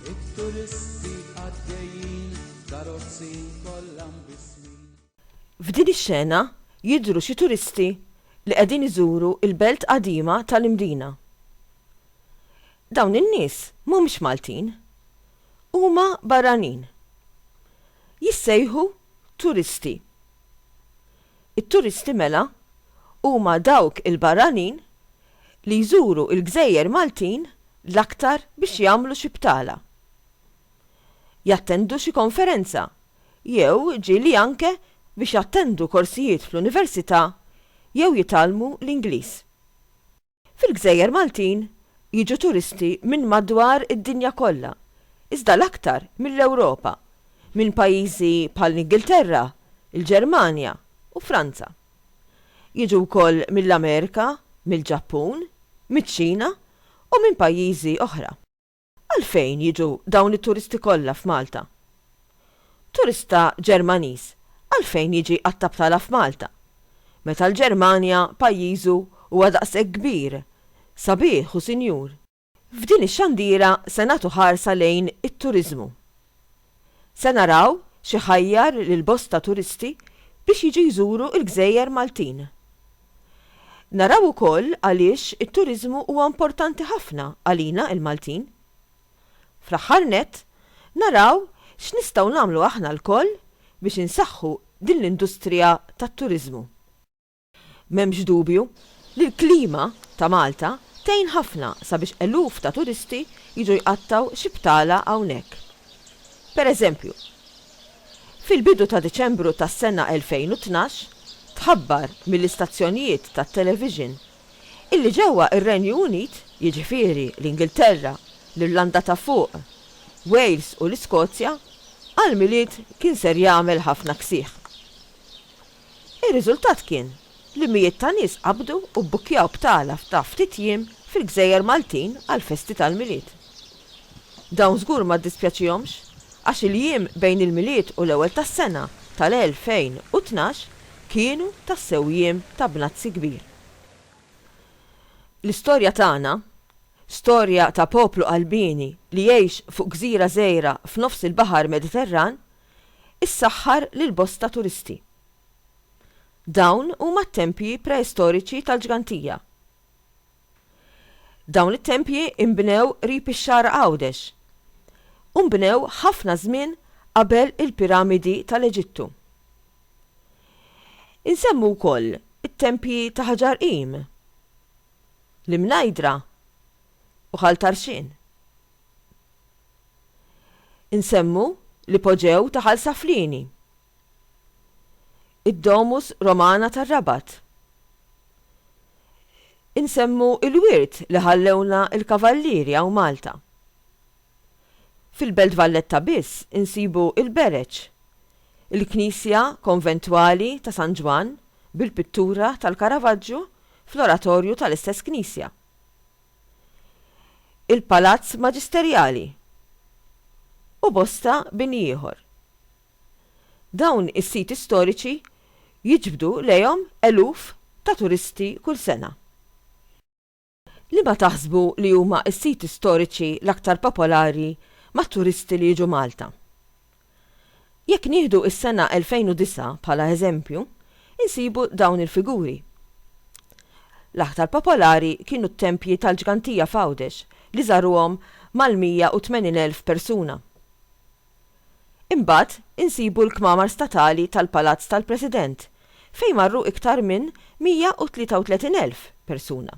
It-turisti għaddejjin karozzi kollha mbismin. F'din ix-xena jidhru xi turisti li qegħdin iżuru l-belt qadima tal-Imdina. Dawn in-nies mhumiex Maltin. Huma barranin. Jissejħu turisti. It-turisti mela huma dawk il-barranin li jżuru l-gżejjer Maltin l-aktar biex jagħmlu xi btala, jattendu xi konferenza jew ġieli anke biex jattendu korsijiet fl-università jew jitgħallmu l-Ingliż. Fil-gżejjer Maltin jiġu turisti minn madwar id-dinja kollha, iżda l-aktar mill-Ewropa, minn pajjiżi bħall-Ingilterra, il-Ġermanja u Franza. Jiġu wkoll mill-Amerika, mill-Ġappun, miċ-Ċina u minn pajjiżi oħra. Għalfejn jiġu dawn it-turisti kollha f'Malta? Turista Ġermaniż għalfejn jiġi għat-Tabtala f'Malta, meta l-Ġermanja, pajjiżu, huwa daqshekk kbir, sabiħ u sinjur? F'din ix-xandiera se nagħtu ħarsa lejn it-turiżmu. Se naraw x'ħajjar lil bosta turisti biex jiġu jżuru l-gżejjer Maltin. Naraw ukoll għaliex it-turiżmu huwa importanti ħafna għalina il-Maltin. Fl-aħħar nett, naraw x'nistgħu nagħmlu aħna lkoll biex insaħħu din l-industrija tat-turiżmu. M'hemmx dubju li l-klima ta' Malta tgħin ħafna sabiex eluf ta' turisti jiġu jqattgħu xi btala hawnhekk. Per eżempju, fil-bidu ta' Diċembru tas-sena 2012 tħabbar mill-istazzjonijiet tat-television illi ġewwa r-Renju Unit, jiġifieri l-Ingilterra, l-Irlanda ta' Fuq, Wales u l-Iskozja, għall-Milied kien ser jagħmel ħafna ksieħ. Ir-riżultat kien li mijiet ta' nies qabdu u bbukkjaw b'tagħla ta' ftit jiem fil-gżejjer Maltin għall-festi tal-Milied. Dawn żgur ma ddispjaċihomx għax il-jiem bejn il-Milied u l-Ewwel tas-Sena tal-2012 kienu tassew jiem ta' bnazzi kbir. L-istorja tagħna, storja ta' poplu qalbieni li jgħix fuq gżira żgħira f'nofs il-Baħar Mediterran, issaħħar lil bosta turisti. Dawn huma t-tempji preistoriċi tal-Ġgantija. Dawn it-tempji inbnew qrib ix-Xagħar Għawdex u nbnew ħafna żmien qabel il-piramidi tal-Eġittu. Insemmu wkoll it-tempji ta' Ħaġar Qim, l-Imnajdra u Ħal Tarxien. Insemmu l-ipoġew ta' Ħal Saflieni, id-Domus Romana tar-Rabat. Insemmu l-wirt li ħallewlna l-Kavallieri hawn Malta. Fil-Belt Valletta biss insibu l-Bereċ, il-knisja konventwali ta' San Ġwann bil-pittura tal-Caravaggio fl-oratorju tal-istess knisja. il-Palazz Maġisterjali u bosta bini ieħor. Dawn is-siti storiċi jiġbdu lejhom eluf ta' turisti kull sena. Liema taħsbu li huma s-siti storiċi l-aktar popolari mat-turisti li jiġu Malta? Jekk nieħdu s-sena 2009 bħala eżempju, insibu dawn il-figuri. L-aktar popolari kienu t-tempji tal-Ġgantija f'Għawdex li żaruhom mal-180,000 persuna. Imbagħad insibu l-kmamar statali tal-Palazz tal-President fejn marru iktar minn 133,000 persuna.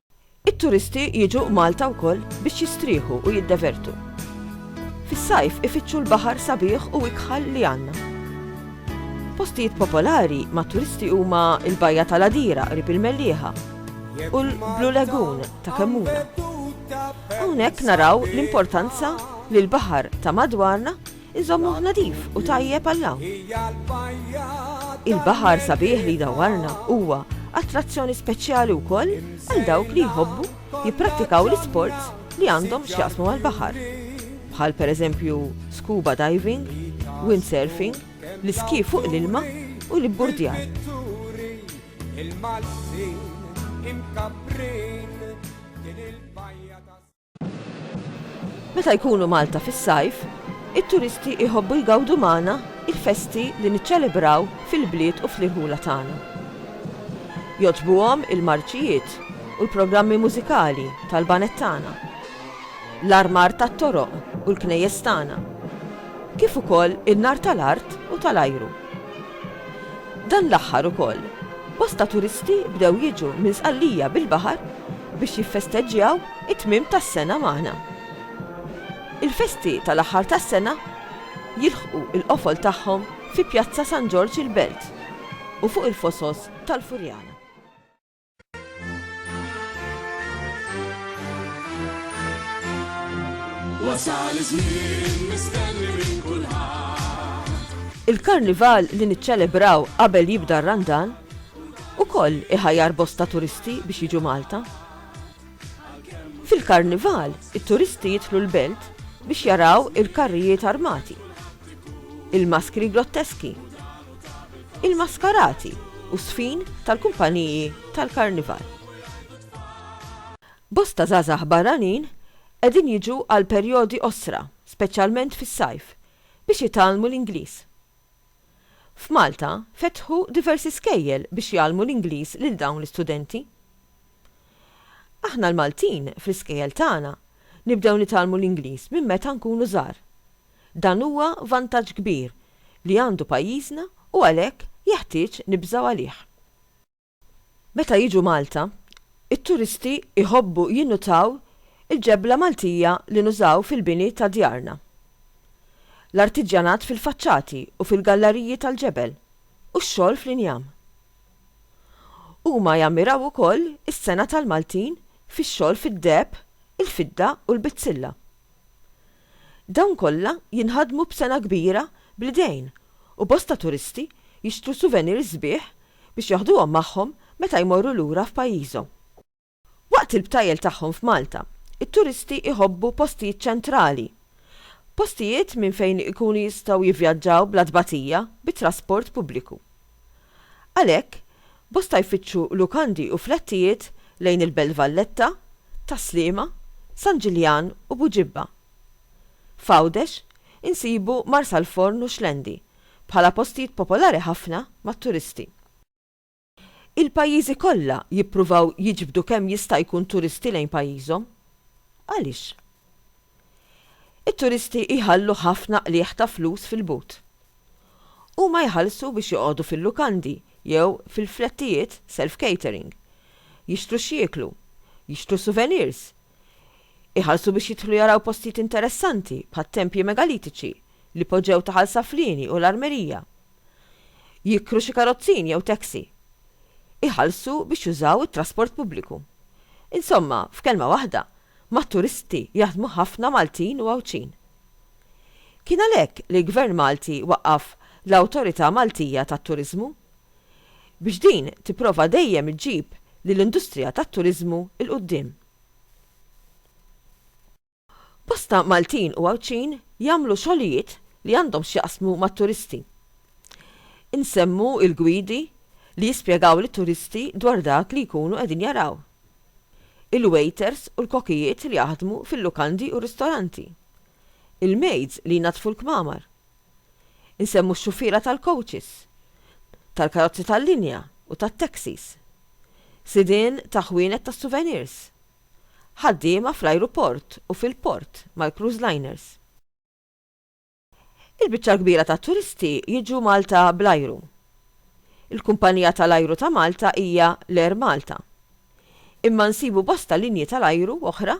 It-turisti jiġu Malta wkoll biex jistrieħu u jiddevertu. Fis-sajf ifittxu l-baħar sabiħ u ikħal li għandna. Postijiet popolari mat-turisti huma l-Bajja tal-Għadira qrib il-Mellieħa u l-Blue Lagoon ta' Kemmuna. Hawnhekk naraw l-importanza li l-baħar ta' madwarna Inżommuh nadif u tajjeb għall-hawn. Il-baħar sabiħ li jdawwarna huwa attrazzjoni speċjali wkoll għal dawk li jħobbu jipprattikaw l-isports li għandhom x'jaqsmu mal-baħar, bħal pereżempju scuba diving, windsurfing, l-iski fuq l-ilma u l-ibburdjar. Meta jkunu Malta fis-sajf, it-turisti jħobbu jgawdu magħna l-festi li niċċelebraw fil-bliet u fl-irħula tagħna. Jogħġbuhom il-marċijiet u l-programmi mużikali tal-baned tagħna, l-armar tat-toroq u l-knejjes tagħna, kif ukoll in-nar tal-art u tal-ajru. Dan l-aħħar ukoll, bosta turisti bdew jiġu minn Sqallija bil-baħar biex jiffesteġġjaw It-tmiem tas-sena magħna. Il-festi tal-aħħar tas-sena jilħqu l-qofol tagħhom fi Pjazza San Ġorġ il-Belt u fuq il-fosos tal-Furjana. Wasal iż-żmien mistenni minn kulħadd. Il-Karnival li niċċelebraw qabel jibda r-Randan ukoll iħajjar bosta turisti biex jiġu Malta. Fil-Karnival, it-turisti jidħlu l-belt biex jaraw il-karrijiet armati, il-maskri grotteski, il-maskarati u s-sfin tal-kumpaniji tal-Karnival. Bosta żgħażagħ barranin qegħdin jiġu għal perjodi qosra, speċjalment fis-sajf, biex jitgħallmu l-Ingliż. F'Malta fetħu diversi skejjel biex jgħallmu l-Ingliż lil dawn l-istudenti. Aħna l-Maltin, fl-iskejjel tagħna, nibdew nitgħallmu l-Ingliż minn meta nkunu żgħar. Dan huwa vantaġġ kbir li għandu pajjiżna u għalhekk jeħtieġ nibżgħu għalih. Meta jiġu Malta, it-turisti jħobbu jinnutaw il-ġebla Maltija li nużaw fil-bini ta' djarna, l-artiġjanat fil-faċċati u fil-gallariji tal-ġebel, u x-xogħol fl-injam. Huma jammiraw ukoll is-sengħa tal-Maltin fix-xogħol fid-deheb, il-fidda u l-bizzilla. Dawn kollha jinħadmu b'sengħa kbira bl-idejn u bosta turisti jixtru souvenirs sbieħ biex jaħduhom magħhom meta jmorru lura f'pajjiżhom. Waqt il-btajjel tagħhom f'Malta, it-turisti jħobbu postijiet ċentrali. Postijiet minn fejn ikunu jistgħu jivvjaġġaw bla tbatija bit-trasport pubbliku. Għalhekk, bosta jfittxu lukandi u flettijiet lejn il-Belt Valletta, Tas-Sliema, San Ġiljan u Buġibba. F'Għawdex, insibu Marsalforn u Xlendi bħala postijiet popolari ħafna mat-turisti. Il-pajjiżi kollha jippruvaw jiġbdu kemm jista' jkun turisti lejn pajjiżhom. Għaliex? It-turisti jħallu ħafna qligħ ta' flus fil-but. Huma jħallsu biex joqogħdu fil-lukandi jew fil-flettijiet self-catering, jixtru x'jieklu, jixtru souvenirs, iħallsu biex jidħlu jaraw postijiet interessanti bħat-tempji megalitiċi, l-ipoġew ta' Ħal Saflieni u l-armerija. Jikkru xi karozzin jew taxi. Iħallsu biex jużaw it-trasport pubbliku. Insomma, f'kelma waħda, mat-turisti jaħdmu ħafna Maltin u Għawdxin. Kien għalhekk li l-Gvern Malti waqqaf l-Awtorità Maltija tat-Turiżmu. Biex din tipprova dejjem iġġib lill-industrija tat-turiżmu 'l quddiem. Bosta Maltin u Għawdxin jagħmlu xogħlijiet li għandhom x'jaqsmu mat-turisti. Insemmu il-gwidi li jispjegaw lit-turisti dwar dak li jkunu qegħdin jaraw, il-wejters u l-kokijiet li jaħdmu fil-lukandi u ristoranti, il-mejds li jnaddfu l-kmamar. Insemmu x-xufiera tal-kowċis, tal-karozzi tal-linja u tat-taxis. Sidien ta' ħwienet tas-suvenirs. Ħaddiema fl-ajruport u fil-port mal-cruise liners. Il-biċċa l-kbira tat-turisti jiġu Malta bl-ajru. Il-kumpanija tal-ajru ta' Malta hija l-Air Malta. Imma nsibu bosta linji tal-ajru oħra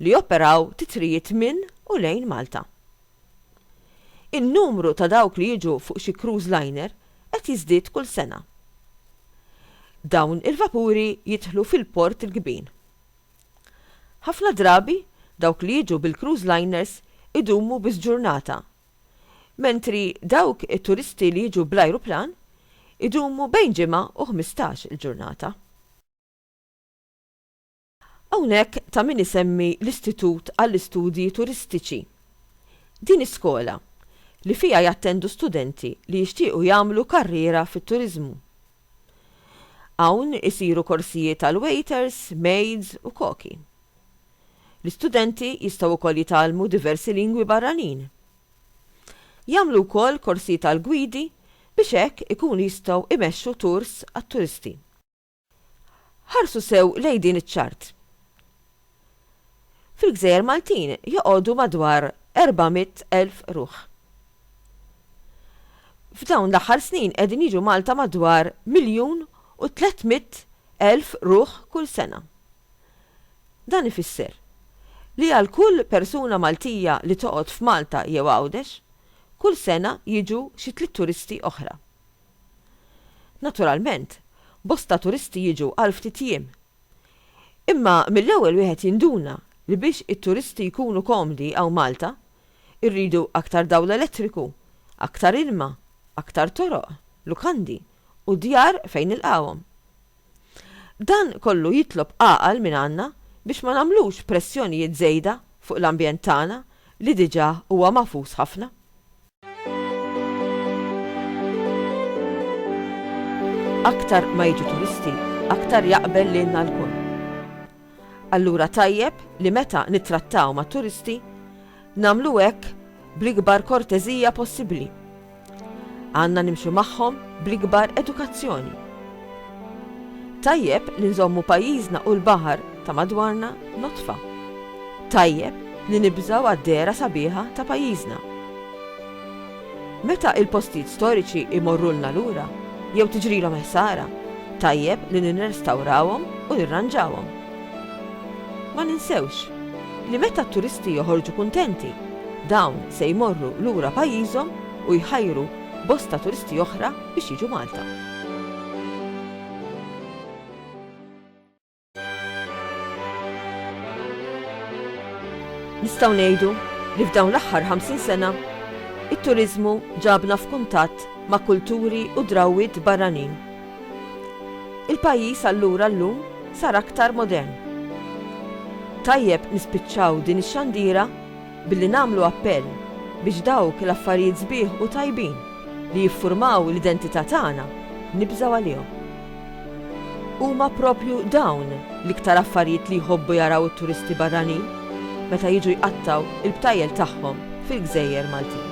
li joperaw titrijiet minn u lejn Malta. In-numru ta' dawk li jiġu fuq xi cruise liner qed jiżdied kull sena. Dawn il-vapuri jidħlu fil-port il-kbin. Ħafna drabi dawk li jiġu bil-cruise liners idumu biss ġurnata, mentri dawk it-turisti li jiġu bl-ajruplan idumu bejn ġimgħa u ħmistax-il ġurnata. Hawnhekk ta' min isemmi l-Istitut għall-Istudji Turistiċi. Din is-skola, li fiha jattendu studenti li jixtiequ jagħmlu karriera fit-turiżmu. Hawn isiru korsijiet għal waiters, maids u koki. L-istudenti jistgħu wkoll jitgħallmu diversi lingwi barranin. Jagħmlu wkoll korsijiet għall-gwidi biex hekk ikunu jistgħu imexxu tours għat-turisti. Ħarsu sew lejn din iċ-ċart. Fil-gżejjer Maltin joqogħdu madwar 400,000 ruħ. F'dawn l-aħħar snin qegħdin jiġu Malta madwar miljun u 300,000 ruħ kull sena. Dan ifisser li għal kull persuna Maltija li toqgħod f'Malta jew Għawdex, kull sena jiġu xi tliet turisti oħra. Naturalment, bosta turisti jiġu għal ftit jiem. Imma mill-ewwel wieħed jinduna li biex it-turisti jkunu komdi hawn Malta, irridu aktar dawl elettriku, aktar ilma, aktar toroq, lukandi u djar fejn nilqgħuhom. Dan kollu jitlob għaqal mingħandna biex ma nagħmlux pressjonijiet żejda fuq l-ambjent tagħna li diġà huwa magħfus ħafna. Aktar ma jiġu turisti, aktar jaqbel lilna lkoll. Allura tajjeb li meta nittrattaw mat-turisti, nagħmlu hekk bl-ikbar korteżija possibbli. Għandna nimxu magħhom bl-ikbar edukazzjoni. Tajjeb li nżommu pajjiżna u l-baħar ta' madwarna nodfa. Tajjeb li nibżgħu għad-dehra sabiħa ta' pajjiżna. Meta il-postijiet storiċi jmorrulna lura jew tiġrilhom ħsara, tajjeb li nirrestawrawhom u nirranġawhom. Ma ninsewx li meta t-turisti joħorġu kuntenti, dawn se jmorru lura pajjiżhom u jħajru bosta turisti oħra biex jiġu Malta. Nistgħu ngħidu li f'dawn l-aħħar 50 sena it-turiżmu ġabna f'kuntatt ma' kulturi u drawwiet barranin. Il-pajjiż allura llum sar aktar modern. Tajjeb nispiċċaw din ix-xandira Billi nagħmlu appell biex dawk l-affarijiet sbieħ u tajbin li jiffurmaw l-identità tagħna nibżgħu għalihom. Huma proprju dawn l-iktar affarijiet li jħobbu jaraw it-turisti barranin meta jiġu jqattgħu l-btajjel tagħhom fil-gżejjer Maltin.